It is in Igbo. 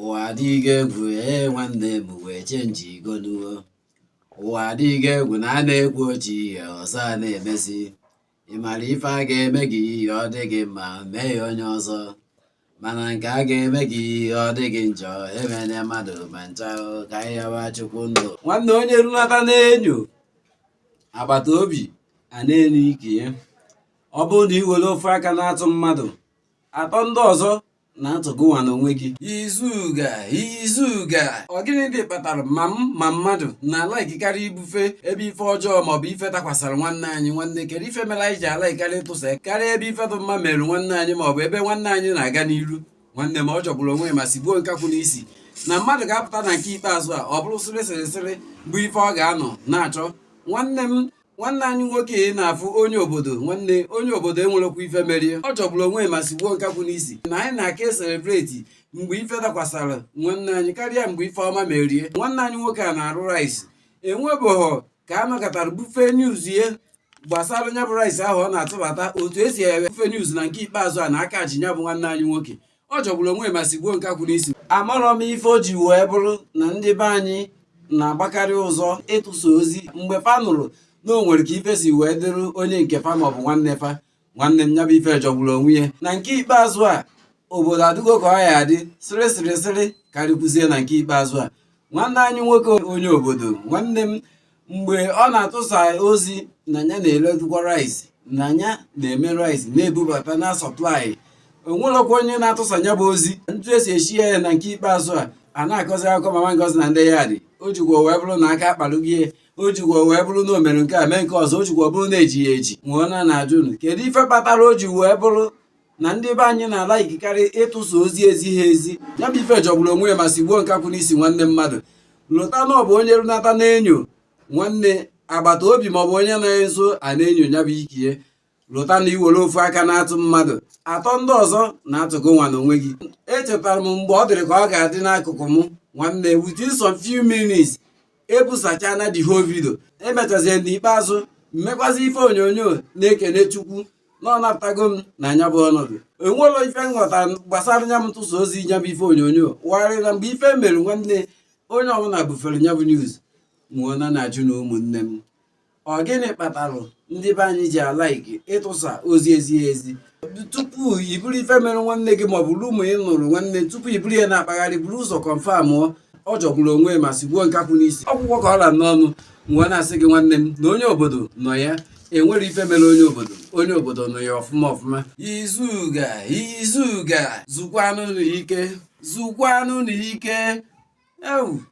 ụwa adịghị egwu ee nwanne m wee chenji igonuo ụwa adịghị egwu na a na-ekwu otu ihe ọzọ a na-emezi ị mara ife a ga-eme gị ihe ọ dị gị mma mee ya onye ọzọ mara nke a ga-eme gị ihe ọ dị gị njọ emene mmadụ ma ncha ka ịyawa chukwu ndụ nwanne onye runata na-enyo agbata obi a na-enyo ike ya ọ bụrụ na i were ofu aka na-atụ mmadụ atọ ndị ọzọ na-atụ gịnwa n'onwe gị izuga izuga ọ gịnị dị kpatara ma m ma mmadụ na-alaikikarị ibufe ebe ife ọjọọ maọbụ ife dakwasara nwanne anyị nwanne kedu ife mere anyị ji alaikarị ịtụsa karịa ebe ife dị mma mere nwanne anyị maọbụ ebe nwanne anyị na-aga n'iru nwanne m ọ jọgburu onwe ma sigbuo nkakwụ n'isi na mmadụ ga-apụta na nke ikpeazụ a ọ bụrụ sịrị sịrị sịrị bụ ife ọ ga-anọ na-achọ nwanne m nwanne anyị nwoke ị na-afụ onye obodo nwanne onye obodo e nwerekwa ife merie ọ jọgburu onwe ma sigbuo nkakwụ n'isi na anyị na-aka eselebreti mgbe ife dakwasara nwanne anyị karịa mgbe ife ọma merie nwanne anyị nwoke a na-arụ rice e nwebughọ ka a nọkatara bufe news ihe gbasara nya bụ rice ahụ ọ na-atụbata otu e si wee bufe news na nke ikpeazụ a na aka ji ya bụ nwanne anyị nwoke ọ jọgburu onwe ma sigbuo nkakwụ n'isi amarọ m ife o ji wee bụrụ na ndị be anyị na-agbakarị ụzọ ịtụsa ozi mgbe fa nụrụ na o nwere ka ife si wee dịrị onye nke fa ma ọ bụ nwanne fa nwanne m ya bụ ife jọgburu onwe ya na nke ikpeazụ a obodo adịgo ka ọ ya-adị sịrị sịrị sịrị karịkwuzie na nke ikpeazụ a nwanne anyị nwoke onye obodo nwanne m mgbe ọ na-atụsa ozi na ya na-eledukwa rice na ya na-eme rice na-ebubata na-asọplai o nwerọkwa onye na-atụsa ya bụ ozi etu e si ezi ya na nke ikpeazụ a a na-akọzi akụkọ mama ngozi na ndị yadị o jikwa wee bụrụ na aka akpalugie o jikwa wee bụrụ na o mere nke a mee nke ọzọ o jikwa bụrụ na e ji ya eji mụnwa na-ajụ unu kedu ife kpatara o ji wee bụrụ na ndị be anyị na-alaikikarị ịtụsa ozi ezighị ezi ya bụ ife jọgburu onwe ya ma sigbuo nkakwụ n'isi nwanne mmadụ lota na ọ bụ onye runata na-enyo nwanne agbata obi maọbụ onye nọ nso a na-enyo ya bụ ikie lota na i were ofu aka na-atụ mmadụ atọ ndị ọzọ na-atụ gịnwa n'onwe gị echetara m mgbe ọ dịrị ka ọ ga-adị n'akụkụ m nwanne within some few minutes e busachana the whole video e mechazie n'ikpeazụ m mekwazi ife onyonyo na-ekene chukwu na ọ napụtago m na nya bụ ọnọdụ enwela ife nghọta gbasara nya m ntụsa ozi nya bụ ife onyonyo wagharị na mgbe ife mere nwanne onye ọbụla bufere nya bụ news mụnwa na-ajụ na ụmụnne m ọ gịnị kpatara ndị be anyị ji alaiki ịtụsa ozi ezighị ezi tupu i buru ife mere nwanne gị maọbụ rumour ị nụrụ nwanne tupu i buru ya na-akpagharị buru ụzọ kọnfam ọ jọgburu onwe ma sigbuo nkakwụ n'isi ọgwụgwọ ka ọ ra n'ọnụ nwa na-asị gị nwanne m na onye obodo nọ ya enwere ife mere onye obodo onye obodo nụ ya ọfụma ọfụma izuga izuga zukwanụ ike zukwanụ ike ewu